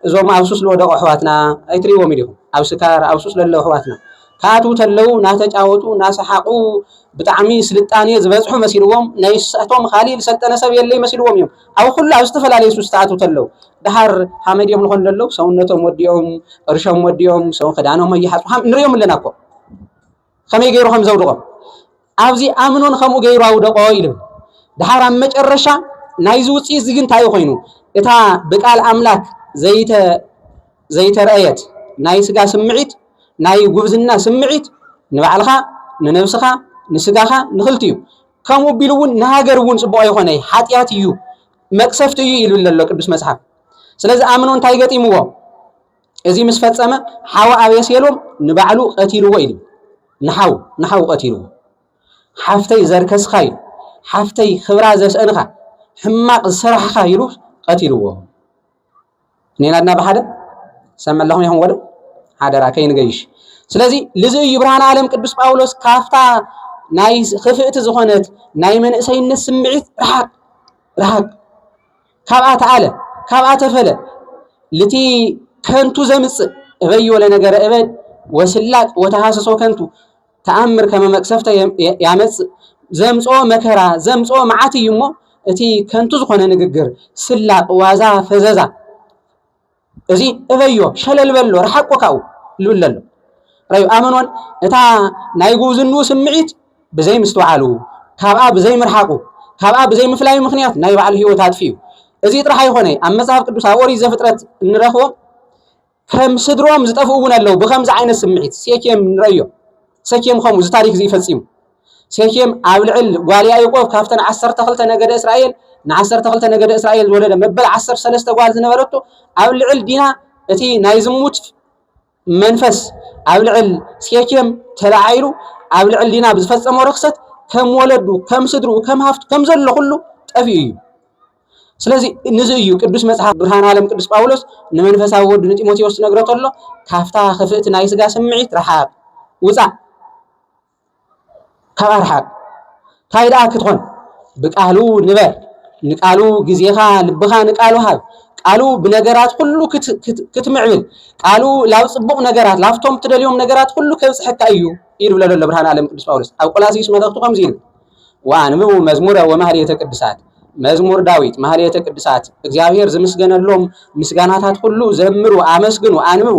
እዞም ኣብ ሱስ ልወደቁ ኣሕዋትና ኣይትሪእዎምን ኢኹም ኣብ ስካር ኣብ ሱስ ለለዉ ኣሕዋትና ክኣትዉ ተለዉ ናተጫወቱ ናሰሓቁ ብጣዕሚ ስልጣኔ ዝበጽሑ መሲልዎም ናይሳቶም ካሊእ ዝሰልጠነ ሰብ የለይ መሲልዎም እዮም ኣብ ኩሉ ኣብ ዝተፈላለዩ ሱስ ተኣትዉ ተለዉ ደሓር ሓመድ እዮም ዝኾኑ ለለዉ ሰውነቶም ወዲኦም ቅርሾም ወዲኦም ሰው ክዳኖም ኣይሓጽ ንሪኦም ኣለና እኮ ከመይ ገይሩ ከም ዘውድቖ ኣብዚ ኣምኖን ከምኡ ገይሩ ኣውደቆ ኢሉ ድሓር ኣብ መጨረሻ ናይዚ ውፅኢት እዚ ግን እንታይ እዩ ኮይኑ እታ ብቃል ኣምላክ ዘይተ ዘይተረኣየት ናይ ስጋ ስምዒት ናይ ጉብዝና ስምዒት ንባዕልኻ ንነብስኻ ንስጋኻ ንክልቲ እዩ ከምኡ ቢሉ እውን ንሃገር እውን ፅቡቅ ኣይኮነ ሓጢኣት እዩ መቅሰፍቲ እዩ ይብል ዘሎ ቅዱስ መፅሓፍ ስለዚ ኣምኖ እንታይ ገጢምዎ እዚ ምስ ፈጸመ ሓው ኣቤሴሎም ንባዕሉ ቀቲልዎ ኢሉ ንሓው ንሓው ቀቲልዎ ሓፍተይ ዘርከስኻ ኢሉ ሓፍተይ ክብራ ዘስእንኻ ሕማቕ ዝሰራሕኻ ኢሉ ቀቲልዎ ኔናድና ብሓደ ሰብ መለኹም ይኹን ወደ ሓደራ ከይንገይሽ ስለዚ ልዚ እዩ ብርሃን ዓለም ቅዱስ ጳውሎስ ካፍታ ናይ ክፍእቲ ዝኾነት ናይ መንእሰይነት ስምዒት ርሓቅ ርሓቅ ካብኣ ተኣለ ካብኣ ተፈለ ልቲ ከንቱ ዘምጽእ እበይ ወለ ነገረ እበድ ወስላጥ ወተሃሰሶ ከንቱ ተኣምር ከመ መቅሰፍተ ያመጽእ ዘምጾ መከራ ዘምጾ መዓት እዩ እሞ እቲ ከንቱ ዝኾነ ንግግር ስላቅ ዋዛ ፈዘዛ እዚ እበዮ ሸለል በሎ ረሓቆ ካብኡ ልብል ኣሎ ረዩ ኣመኖን እታ ናይ ጉብዝንኡ ስምዒት ብዘይ ምስትውዓሉ ካብኣ ብዘይ ምርሓቁ ካብኣ ብዘይ ምፍላዩ ምክንያት ናይ ባዕሉ ህይወት ኣጥፊኡ እዚ ጥራሕ ኣይኮነ ኣብ መጽሓፍ ቅዱስ ኣብ ኦሪት ዘፍጥረት እንረኽቦ ከም ስድሮም ዝጠፍኡ እውን ኣለዉ ብከምዚ ዓይነት ስምዒት ሴኬም ንረዮ ሰኬም ከምኡ እዚ ታሪክ እዚ ይፈጺሙ ሴኬም ኣብ ልዕል ጓል ያኢቆብ ካብተን ዓሰርተ ክልተ ነገደ እስራኤል ንዓሰርተ ክልተ ነገደ እስራኤል ዝወለደ መበል ዓሰርተ ሰለስተ ጓል ዝነበረቶ ኣብ ልዕል ዲና እቲ ናይ ዝሙት መንፈስ ኣብ ልዕል ሴኬም ተላዓይሉ ኣብ ልዕል ዲና ብዝፈጸሞ ርክሰት ከም ወለዱ ከም ስድርኡ ከም ሃፍቱ ከም ዘሎ ኩሉ ጠፊኡ እዩ ስለዚ ንዚ እዩ ቅዱስ መጽሓፍ ብርሃን ዓለም ቅዱስ ጳውሎስ ንመንፈሳዊ ወዱ ንጢሞቴዎስ ዝነግሮ ተሎ ካብታ ክፍእቲ ናይ ስጋ ስምዒት ረሓቅ ውጻእ ካብ ኣርሓቅ ታይ ደኣ ክትኾን ብቃሉ ንበር ንቃሉ ግዜኻ ልብኻ ንቃሉ ሃብ ቃሉ ብነገራት ኩሉ ክትምዕብል ቃሉ ላብ ፅቡቅ ነገራት ላብቶም ትደልዮም ነገራት ኩሉ ከብፅሐካ እዩ እዩ ዝብለ ዘሎ ብርሃን ዓለም ቅዱስ ጳውሎስ ኣብ ቆላሲስ መልእኽቱ ከምዚ ይብል ወኣንብቡ መዝሙረ ወማህሌተ ቅዱሳት መዝሙር ዳዊት ማህሌተ ቅዱሳት እግዚኣብሔር ዝምስገነሎም ምስጋናታት ኩሉ ዘምሩ ኣመስግኑ ኣንብቡ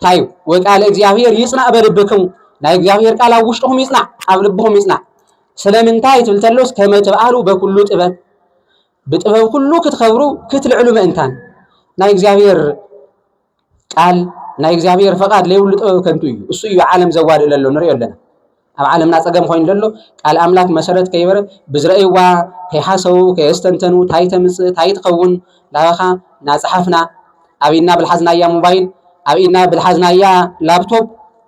ታዩ ወቃለ እግዚኣብሔር ይጽናዕ በልብክሙ ናይ እግዚኣብሔር ቃል ኣብ ውሽጥኹም ይጽናዕ ኣብ ልብኹም ይጽናዕ ስለምንታይ ትብል ተሎስ ከመ ትብዓሉ በኩሉ ጥበብ ብጥበብ ኩሉ ክትኸብሩ ክትልዕሉ ምእንታን ናይ እግዚኣብሔር ቃል ናይ እግዚኣብሔር ፈቃድ ለይብሉ ጥበብ ከንቱ እዩ እሱ እዩ ዓለም ዘዋድእ ለሎ ንሪኦ ኣለና ኣብ ዓለምና ጸገም ኮይኑ ዘሎ ቃል ኣምላክ መሰረት ከይበረ ብዝረእይዋ ከይሓሰቡ ከየስተንተኑ ታይ ተምጽእ ታይ ትኸውን ላበኻ ናጸሓፍና ኣብ ኢድና ብልሓዝናያ ሞባይል ኣብ ኢድና ብልሓዝናያ ላፕቶፕ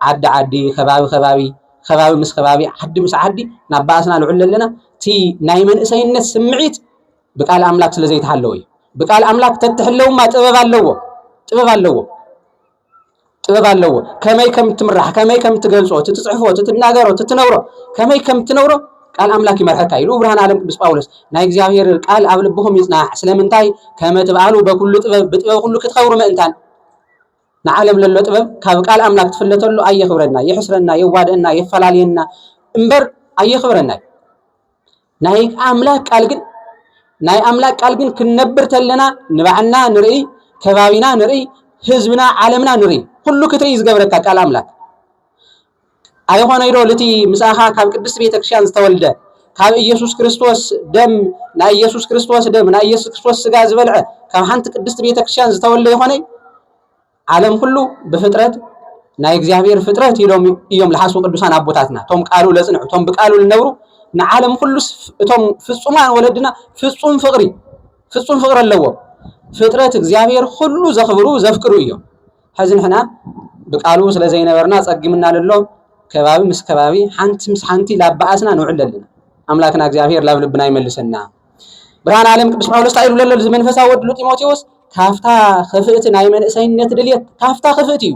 ዓዲ ዓዲ ከባቢ ከባቢ ከባቢ ምስ ከባቢ ዓዲ ምስ ዓዲ ናብ ባእስና ንዕሉ ኣለና እቲ ናይ መንእሰይነት ስምዒት ብቃል ኣምላክ ስለ ዘይተሓለወ እዩ ብቃል ኣምላክ ተትሕለውማ ጥበብ ኣለዎ ጥበብ ኣለዎ ጥበብ ኣለዎ። ከመይ ከም እትምራሕ፣ ከመይ ከም እትገልጾ፣ እቲ ትጽሕፎ፣ እቲ ትናገሮ፣ እቲ ትነብሮ፣ ከመይ ከም እትነብሮ ቃል ኣምላክ ይመርሐካ ኢሉ ብርሃን ዓለም ቅዱስ ጳውሎስ ናይ እግዚኣብሔር ቃል ኣብ ልብኹም ይጽናዕ ስለምንታይ ከመ ትብኣሉ በኩሉ ጥበብ ብጥበብ ኩሉ ክትኸብሩ ምእንታን ንዓለም ለሎ ጥበብ ካብ ቃል ኣምላክ ትፍለተሉ ኣየኽብረና፣ የሕስረና፣ የዋደአና፣ የፈላልየና እምበር ኣየኽብረና እዩ። ናይ ኣምላክ ቃል ግን ናይ ኣምላክ ቃል ግን ክንነብር ተለና ንባዕልና ንርኢ፣ ከባቢና ንርኢ፣ ህዝብና ዓለምና ንርኢ፣ ኩሉ ክትርኢ ዝገብረካ ቃል ኣምላክ ኣይኾነይዶ ልቲ ምሳኻ ካብ ቅድስት ቤተክርስትያን ዝተወልደ ካብ ኢየሱስ ክርስቶስ ደም ናይ ኢየሱስ ክርስቶስ ደም ናይ ኢየሱስ ክርስቶስ ስጋ ዝበልዐ ካብ ሓንቲ ቅድስት ቤተክርስትያን ዝተወልደ ይኾነይ ዓለም ኩሉ ብፍጥረት ናይ እግዚኣብሔር ፍጥረት ኢሎም እዮም ዝሓስቡ ቅዱሳን ኣቦታትና እቶም ቃሉ ለጽንዑ እቶም ብቃሉ ልነብሩ ንዓለም ኩሉስ እቶም ፍጹማን ወለድና ፍጹም ፍቅሪ ፍጹም ፍቅሪ ኣለዎም ፍጥረት እግዚኣብሔር ኩሉ ዘኽብሩ ዘፍቅሩ እዮም ሕዚ ንሕና ብቃሉ ስለ ዘይነበርና ጸጊምና ልሎ ከባቢ ምስ ከባቢ ሓንቲ ምስ ሓንቲ ላበኣስና ንውዕል ኣለና ኣምላክና እግዚኣብሔር ላብ ልብና ይመልሰና ብርሃን ዓለም ቅዱስ ጳውሎስ እንታይ ኢሉ ዘሎ መንፈሳዊ ወድሉ ጢሞቴዎስ ካብታ ክፍእቲ ናይ መንእሰይነት ድልየት ካብታ ክፍእቲ እዩ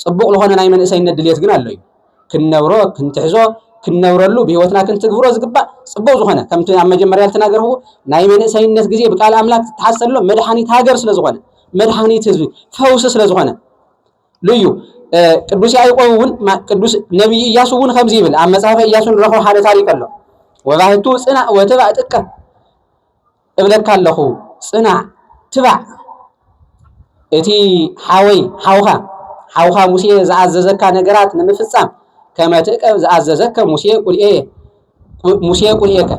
ፅቡቕ ዝኾነ ናይ መንእሰይነት ድልየት ግን ኣሎ እዩ ክንነብሮ ክንትሕዞ ክንነብረሉ ብህይወትና ክንትግብሮ ዝግባእ ፅቡቕ ዝኾነ ከምቲ ኣብ መጀመርያ ዝተናገርዎ ናይ መንእሰይነት ግዜ ብቃል ኣምላክ ዝተሓሰሎ መድሓኒት ሃገር ስለ ዝኾነ መድሓኒት ህዝቢ ፈውሲ ስለ ዝኾነ ልዩ ቅዱስ ያዕቆብ እውን ቅዱስ ነቢይ እያሱ እውን ከምዚ ይብል ኣብ መጽሓፈ እያሱ ንረኽቦ ሓደ ታሪክ ኣሎ ወባህቱ ጽናዕ ወትባዕ ጥቀ እብለካ ኣለኹ ጽናዕ ትባዕ እቲ ሓወይ ሓውኻ ሓውኻ ሙሴ ዝኣዘዘካ ነገራት ንምፍጻም ከመ ትእቀብ ዝኣዘዘከ ሙሴ ቁልኤ ሙሴ ቁርኤከ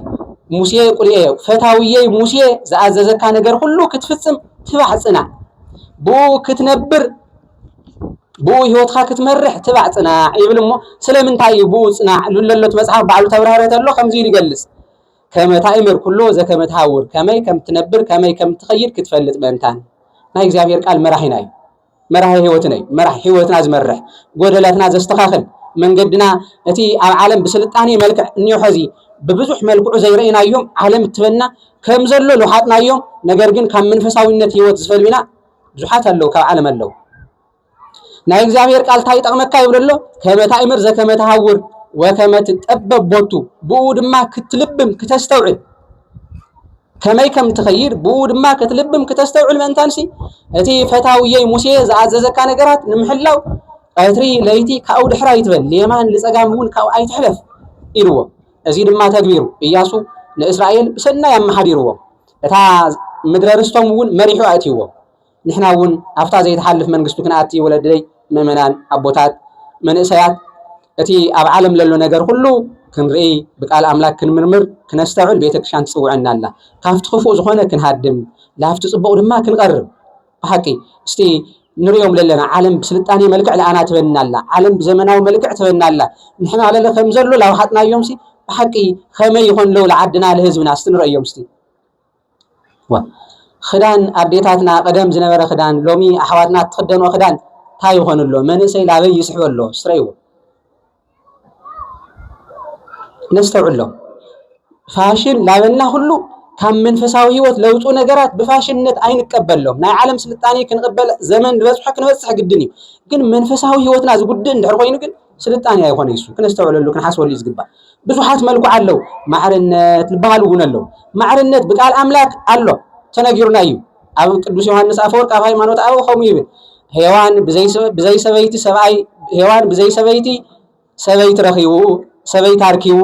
ሙሴ ቁርኤዮ ፈታውየይ ሙሴ ዝኣዘዘካ ነገር ሁሉ ክትፍጽም ትባዕ ጽናዕ ብኡ ክትነብር ብኡ ህይወትካ ክትመርሕ ትባዕ ፅናዕ ይብል እሞ ስለምንታይ እዩ ብኡ ፅናዕ ልለሎት መፅሓፍ ባዕሉ ተብራህረ ተሎ ከምዚ ኢሉ ይገልፅ ከመታእምር ኩሎ ዘከመትሃውር ከመይ ከምትነብር ከመይ ከምትኸይድ ክትፈልጥ ምእንታን ናይ እግዚኣብሔር ቃል መራሒና እዩ መራሒ ህይወትና እዩ። መራሒ ህይወትና ዝመርሕ ጎደለትና ዘስተኻኽል መንገድና እቲ ኣብ ዓለም ብስልጣኔ መልክዕ እኒዮ ሕዚ ብብዙሕ መልክዑ ዘይረእናዮም ዓለም እትበና ከም ዘሎ ልውሓጥናዮም ነገር ግን ካብ መንፈሳዊነት ህይወት ዝፈልዩና ብዙሓት ኣለዉ ካብ ዓለም ኣለዉ ናይ እግዚኣብሔር ቃል እንታይ ይጠቕመካ ይብሎ ኣሎ ከመ ታእምር ዘከመ ተሃውር ወከመ ትጠበብ ቦቱ ብኡ ድማ ክትልብም ክተስተውዕል ከመይ ከም እትኸይድ ብእኡ ድማ ክትልብም ክተስተውዕል ምእንታንሲ እቲ ፈታውየይ ሙሴ ዝኣዘዘካ ነገራት ንምሕላው ቀትሪ ለይቲ ካብኡ ድሕር ኣይትበል ንየማን ንጸጋም እውን ካብኡ ኣይትሕለፍ ኢልዎ እዚ ድማ ተግቢሩ እያሱ ንእስራኤል ብሰናይ ኣመሓዲርዎም እታ ምድረ ርስቶም እውን መሪሑ ኣእትይዎም ንሕና እውን ኣብታ ዘይትሓልፍ መንግስቱ ክንኣቲ ወለደይ ምእመናን ኣቦታት መንእሰያት እቲ ኣብ ዓለም ለሎ ነገር ኩሉ ክንርኢ ብቃል ኣምላክ ክንምርምር ክነስተውዕል ቤተክርስትያን ትጽውዐና ኣላ ካብቲ ክፉእ ዝኾነ ክንሃድም ላፍቲ ጽቡቕ ድማ ክንቐርብ ብሓቂ እስቲ ንሪኦም ለለና ዓለም ብስልጣኔ መልክዕ ለኣና ትበና ኣላ ዓለም ብዘመናዊ መልክዕ ትበና ኣላ ንሕና ለለ ከም ዘሎ ላውሓጥናዮም ሲ ብሓቂ ከመይ ይኾን ለው ለዓድና ለህዝብና እስቲ ንረእዮም እስቲ ኽዳን ኣዴታትና ቀደም ዝነበረ ኽዳን ሎሚ ኣሕዋትና ትኽደኖ ኽዳን እንታይ ይኾን ኣሎ? መንእሰይ ላበይ ይስሕብ ኣሎ? ስረይዎ ነስተውዕሎ። ፋሽን ላበልና ኩሉ ካብ መንፈሳዊ ህይወት ለውጡ ነገራት ብፋሽንነት ኣይንቀበሎም። ናይ ዓለም ስልጣኔ ክንቕበል ዘመን ዝበፅሖ ክንበፅሕ ግድን እዩ። ግን መንፈሳዊ ህይወትና ዝጉድእ እንድሕር ኮይኑ ግን ስልጣኔ ኣይኮነ ይሱ ክነስተውዕለሉ ክንሓስበሉ እዩ ዝግባእ። ብዙሓት መልኩዕ ኣለው ማዕርነት ዝበሃል እውን ኣለው። ማዕርነት ብቃል ኣምላክ ኣሎ ተነጊሩና እዩ። ኣብ ቅዱስ ዮሐንስ ኣፈወርቅ ኣብ ሃይማኖት ኣበው ከምኡ ይብል ሔዋን ብዘይ ሰበይቲ ሰብኣይ ሔዋን ብዘይ ሰበይቲ ሰበይቲ ረኺቡ ሰበይቲ ኣርኪቡ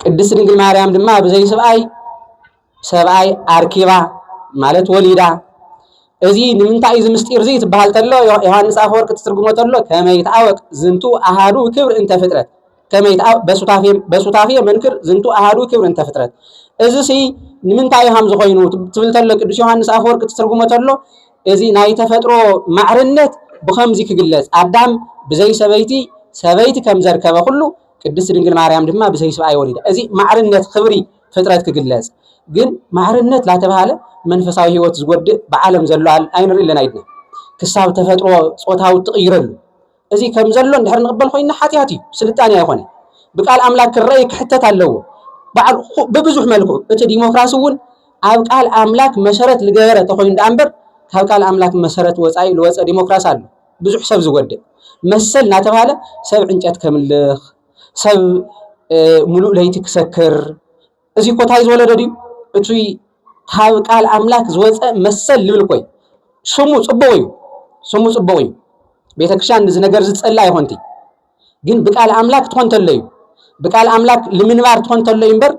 ቅድስት ድንግል ማርያም ድማ ብዘይ ስብኣይ ሰብኣይ ኣርኪባ ማለት ወሊዳ እዚ ንምንታይ እዚ ምስጢር እዚ ትበሃል ተሎ ዮሃንስ ኣፈወርቅ ትትርጉሞ ተሎ ከመይ ይትኣወቅ ዝንቱ ኣሃዱ ክብር እንተ ፍጥረት ከመይ ይትኣወቅ በሱታፌ በሱታፌ መንክር ዝንቱ ኣሃዱ ክብር እንተ ፍጥረት እዚ ሲ ንምንታይ ሃም ዝኾይኑ ትብል ተሎ ቅዱስ ዮሃንስ ኣፈወርቅ ትትርጉሞ ተሎ እዚ ናይ ተፈጥሮ ማዕርነት ብኸምዚ ክግለጽ ኣዳም ብዘይ ሰበይቲ ሰበይቲ ከም ዘርከበ ኩሉ ቅድስት ድንግል ማርያም ድማ ብዘይ ስብኣይ ወሊዳ እዚ ማዕርነት ክብሪ ፍጥረት ክግለጽ ግን ማዕርነት ላተባህለ መንፈሳዊ ህይወት ዝጎድእ ብዓለም ዘሎ ኣይንርኢ ኣለና ኢድና ክሳብ ተፈጥሮ ጾታዊ እትቕይረሉ እዚ ከም ዘሎ እንድሕር ንቕበል ኮይና ሓጢኣት እዩ፣ ስልጣኔ ኣይኮነ። ብቃል ኣምላክ ክረኣይ ክሕተት ኣለዎ በዓል ብብዙሕ መልክዑ እቲ ዲሞክራሲ እውን ኣብ ቃል ኣምላክ መሰረት ዝገበረ ተኮይኑ ደኣ እምበር ካብ ቃል ኣምላክ መሰረት ወፃኢ ዝወፀ ዲሞክራሲ ኣሎ ብዙሕ ሰብ ዝጎድእ መሰል እናተባሃለ ሰብ ዕንጨት ከምልኽ ሰብ ሙሉእ ለይቲ ክሰክር እዚ እኮ እንታይ ዝወለደ ድዩ እቲ ካብ ቃል ኣምላክ ዝወፀ መሰል ልብል እኮ እዩ ስሙ ፅቡቅ እዩ ስሙ ፅቡቅ እዩ ቤተክርስትያን እዚ ነገር ዝፀላ ይኮንቲ ግን ብቃል ኣምላክ ትኾን ተሎ እዩ ብቃል ኣምላክ ልምንባር ትኾን ተሎ እዩ እምበር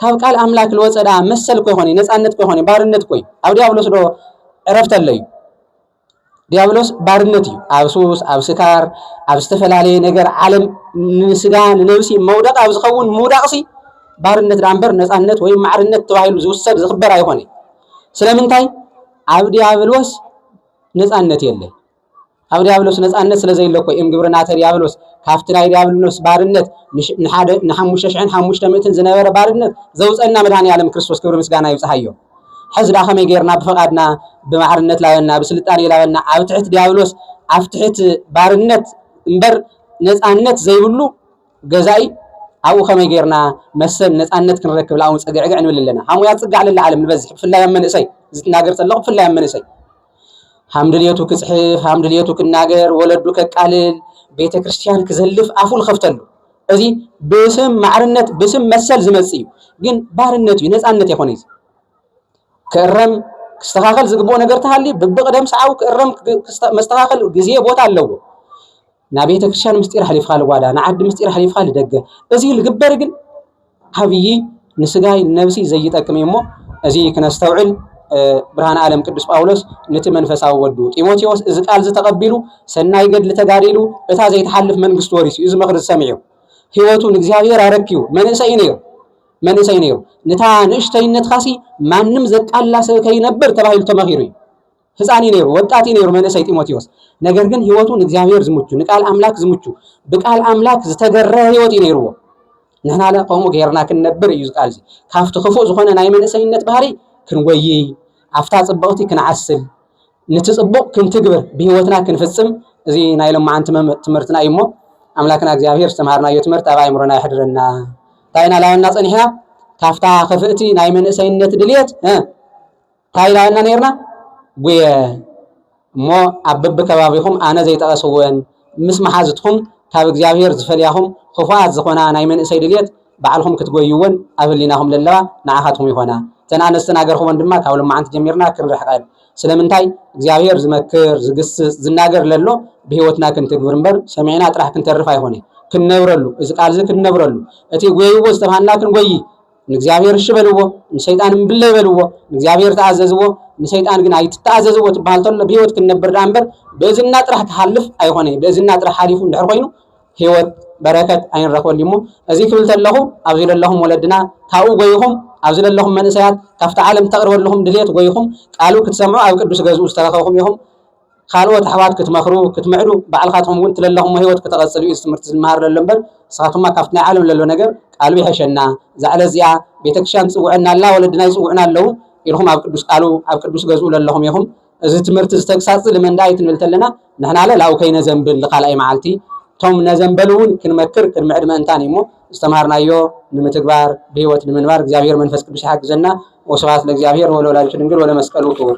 ካብ ቃል ኣምላክ ልወፀ ድኣ መሰል እኮ ይኮን እዩ ነፃነት እኮ ይኮን እዩ ባርነት እኮ እዩ ኣብ ዲያብሎስ ዶ ዕረፍቲ ኣሎ እዩ ዲያብሎስ ባርነት እዩ ኣብ ሱስ ኣብ ስካር ኣብ ዝተፈላለየ ነገር ዓለም ንስጋ ንነብሲ መውደቕ ኣብ ዝኸውን ምውዳቕሲ ባርነት ዳኣ እምበር ነፃነት ወይም ማዕርነት ተባሂሉ ዝውሰድ ዝኽበር ኣይኾነ ስለምንታይ ኣብ ዲያብሎስ ነፃነት የለ ኣብ ዲያብሎስ ነፃነት ስለ ዘይለ እኮ እዮም ግብርናተ ዲያብሎስ ካብቲ ናይ ዲያብሎስ ባርነት ንሓደ ንሓሙሽተ ሽሕን ሓሙሽተ ምእትን ዝነበረ ባርነት ዘውፀና መድሃኒ ዓለም ክርስቶስ ክብሪ ምስጋና ይብፅሓዮ ሕዚ ድኣ ከመይ ጌርና ብፍቓድና ብማዕርነት ላበና ብስልጣኔ ላበና ኣብ ትሕት ዲያብሎስ ኣብ ትሕት ባርነት እምበር ነጻነት ዘይብሉ ገዛኢ ኣብኡ ከመይ ጌርና መሰል ነጻነት ክንረክብ ላውን ጸግዕግዕ ንብል ኣለና። ሃሙያት ጽግዕ ለላ ዓለም ንበዝሕ ብፍላይ ኣብ መንእሰይ እዚ ትናገር ጸለኹ ብፍላይ ኣብ መንእሰይ ሃምድልየቱ ክጽሕፍ ሃምድልየቱ ክናገር ወለዱ ከቃልል ቤተ ክርስቲያን ክዘልፍ ኣፉ ንኸፍተሉ እዚ ብስም ማዕርነት ብስም መሰል ዝመጽእ እዩ ግን ባርነት እዩ ነፃነት የኾነ እዩ ክእረም ክስተኻኸል ዝግብኦ ነገር ተሃልዩ ብብቕደም ሰዓቡ ክእረም መስተኻኸል ግዜ ቦታ ኣለዎ ናብ ቤተ ክርስቲያን ምስጢር ኣሕሊፍካ ልጓዳ ንዓዲ ምስጢር ኣሕሊፍካ ልደገ እዚ ልግበር ግን ዓብዪ ንስጋይ ንነብሲ ዘይጠቅም እዩ እሞ እዚ ክነስተውዕል ብርሃን ዓለም ቅዱስ ጳውሎስ ነቲ መንፈሳዊ ወዱ ጢሞቴዎስ እዚ ቃል ዝተቐቢሉ ሰናይ ገድሊ ተጋዲሉ እታ ዘይትሓልፍ መንግስቲ ወሪሱ እዩ ዝመኽሪ ዝሰሚዑ ህይወቱ ንእግዚኣብሔር ኣረክዩ መንእሰይ ነይሩ መንእሰይ ነይሩ ነታ ንእሽተይነትካሲ ማንም ዘቃላ ሰብ ከይነብር ተባሂሉ ተመኺሩ እዩ ህፃን እዩ ነይሩ፣ ወጣት እዩ ነይሩ መንእሰይ ጢሞቴዎስ። ነገር ግን ህይወቱ ንእግዚኣብሔር ዝምቹ፣ ንቃል ኣምላክ ዝምቹ፣ ብቃል ኣምላክ ዝተገረ ህይወት እዩ ነይርዎ። ንሕና ለ ከምኡ ገይርና ክንነብር እዩ ዝቃል እዚ ካብቲ ክፉእ ዝኾነ ናይ መንእሰይነት ባህሪ ክንጎይይ ኣብታ ፅብቕቲ ክንዓስል ንቲ ፅቡቕ ክንትግብር ብህይወትና ክንፍፅም እዚ ናይ ሎማዓንቲ ትምህርትና እዩ እሞ ኣምላክና እግዚኣብሔር ዝተምሃርናዮ ትምህርት ኣብ ኣእምሮና ይሕድረና እንታይ ኢና ላበና ፀኒሕና ካብታ ክፍእቲ ናይ መንእሰይነት ድልየት ታይ ኢልና ኢና ነይርና ጉየ እሞ ኣብ በብከባቢኹም ኣነ ዘይጠቐስወን ምስ መሓዙትኹም ካብ እግዚኣብሔር ዝፈልያኹም ኽፉኣት ዝኾና ናይ መንእሰይ ድልየት ባዕልኹም ክትጎይወን ኣብ ህሊናኹም ለለዋ ንዓኻትኩም ይኾና እተን ኣንስቲ ናገርኽወን ድማ ካብ ሎማዓንቲ ጀሚርና ክንርሕቐን ስለምንታይ እግዚኣብሔር ዝመክር ዝግስፅ ዝናገር ለሎ ብህይወትና ክንትግብር እምበር ሰሚዕና ጥራሕ ክንተርፍ ኣይኾነይ ክንነብረሉ እዚ ቃልዚ ክንነብረሉ እቲ ጎይዎ ዝተብሃልና ክንጎይ ንእግዚኣብሔር እሺ በልዎ፣ ንሰይጣን እምብለ ይበልዎ። ንእግዚኣብሔር ተኣዘዝዎ፣ ንሰይጣን ግን ኣይትተኣዘዝዎ ትበሃል ተሎ ብህይወት ክንነብር ደኣ እምበር ብእዝንና ጥራሕ ክሓልፍ ኣይኾነይ። ብእዝንና ጥራሕ ሓሊፉ እንድሕር ኮይኑ ህይወት በረከት ኣይንረክበሉ እሞ እዚ ክብል ተለኹ ኣብዚ ዘለኹም ወለድና ካብኡ ጎይኹም ኣብዚ ዘለኹም መንእሰያት ካብቲ ዓለም ተቕርበልኹም ድሌት ጎይኹም ቃሉ ክትሰምዑ ኣብ ቅዱስ ገዝኡ ዝተረኸብኹም ኢኹም። ካልኦት ኣሕዋት ክትመኽሩ፣ ክትምዕዱ፣ ባዕልኻትኩም እውን እቲ ለለኹሞ ህይወት ከተቐጽሉ እዩ እዚ ትምህርቲ ዝመሃር ለሎ እምበር፣ ንስኻትኩማ ካብቲ ናይ ዓለም ለሎ ነገር ቃሉ ይሐሸና፣ እዛ ዕለት እዚኣ ቤተክርስትያን ትጽውዐና ኣላ፣ ወለድና ይጽውዑና ኣለዉ ኢልኩም ኣብ ቅዱስ ቃሉ ኣብ ቅዱስ ገዝኡ ለለኹም ኢኹም። እዚ ትምህርቲ እዚ ተግሳጽ እዚ ልመን ደኣ እዩ ክንብል ተለና ንሕናለ ላው ከይነዘንብል ንካልኣይ መዓልቲ እቶም ነዘንበሉ እውን ክንመክር ክንምዕድ ምእንታን እዩ እሞ ዝተምሃርናዮ ንምትግባር ብህይወት ንምንባር እግዚኣብሔር መንፈስ ቅዱስ ይሓግዘና። ወስብሐት ለእግዚኣብሔር ወለወላዲቱ ድንግል ወለመስቀሉ ክቡር።